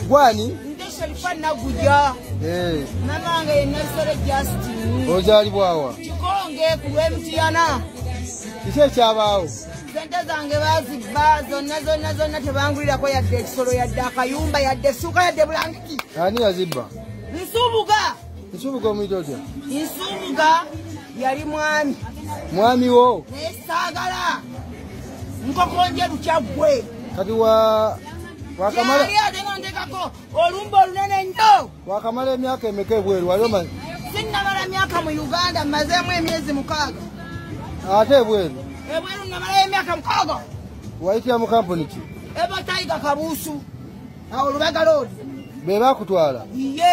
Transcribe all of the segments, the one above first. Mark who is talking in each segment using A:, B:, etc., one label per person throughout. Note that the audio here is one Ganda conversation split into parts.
A: gwani
B: ozalibwawa
A: kikonge ku
B: lwemutiyana kiki
A: ekyabaawo sente zange
B: bazibba zonna zonna zonna tebangulirako yadde ekisolo yadde akayumba yadde essuuka yadde bulangiki ani yazibba
A: nsubuga
B: nsubuga omuyita
A: otya nsubuga
B: yali mwami mwami wo
A: naye saagala
B: nkokonje lukya gwe kati wa
A: wakamala yali atenondekako
B: olumba olunene nnyo wakamala emyaka
A: emeka ebweru wali omanyi sinnamala myaka
B: mu uganda mmazeemu emyezi mukaaga ate
A: ebweru ebweru namalayo
B: emyaka mukaaga wayitira mu
A: kampuni ki eba taiga
B: kabuusu awo lubaga loodi be bakutwala
A: iye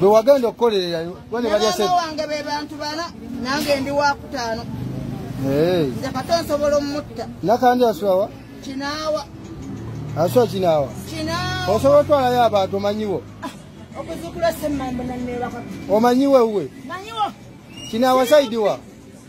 B: bwe
A: wagenda okukolererayo bane balya sente wange be bantu bana
B: nange ndi wa kutaano nze kata nsobola omutta nakandi asulawa
A: kinaawa asula kinaawa kinaawa osobola
B: otwalayo abantu
A: omanyiwo ah, okuzukula
B: semmambo nanneebaka omanyiwo ewuwe
A: manyiwo
B: kinaawa
A: saidiwa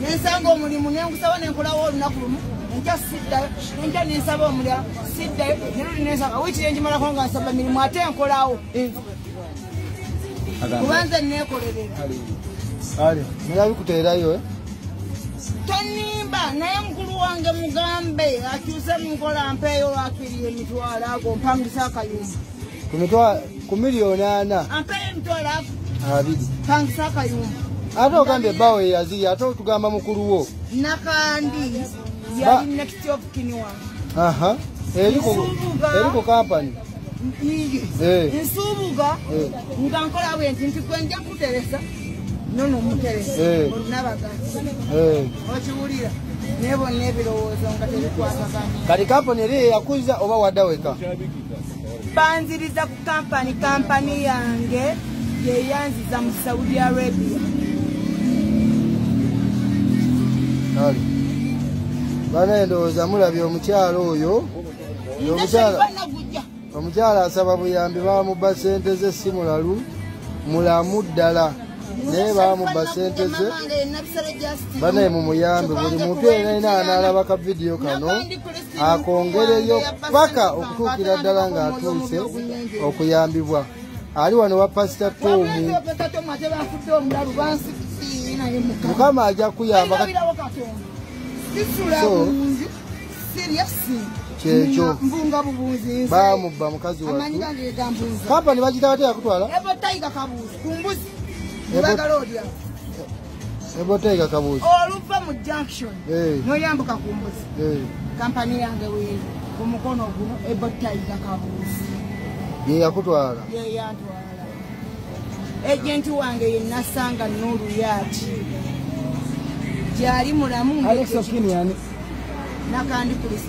B: nensanga omulimu nengusaba nenkolawo olunaku lumu enkya siddayo enkya nensaba omulala siddayo neruli nensaba wikiri enjimalako nga nsaba mirimu ate enkolawo kubanze nekolerera
A: nabikuteerayo eh? tonimba
B: naye mukulu wange mugambe akyuse munkola mpeeyo lwakiri emitwalo ago mpangisa akayumba ku miliyoni
A: ana
B: abiri ate ogambye
A: ebbaawo eyaziri ate otugamba mukulu wo nakandi
B: yali next of kiniwa aha eri ku
A: eri ku company eh. nsubuga
B: eh. nga nkola bwe nti nti gwe nja kuteresa nono omuteresa eh. olunabagazi okiwulira nebona ebirowoozo nga tebikwatagana kati kampani eri
A: eyakuza oba wadaweka
B: banziriza ku kampani kampani yange yeyanziza mu saudi
A: arabia bana endowooza mulabye omukyalo oyo omukyala omukyala asaba buyambi bamubba sente ze si mulalu mulamu ddala naye bamubba sente ze banaye mumuyambe buli muntu enaina anaalaba ka vidiyo kano akongereyo paka okutuukira ddala ng'atuuse okuyambibwa ali wano wa pasita tomu mukama ajja kuyamba kyekyo bamubba mukazi wa kampani bagitawateyakutwala Sebotega kabuzi. Oluva mu junction.
B: Hey. No yambuka kumbuzi. Hey. Company yange we ku mukono gu ebotega kabuzi. Ye
A: yakutwala. Ye
B: yantwala. Agent wange ye nasanga nuru yati.
A: Jali
B: mulamu.
A: Alex Okini yani. Nakandi police.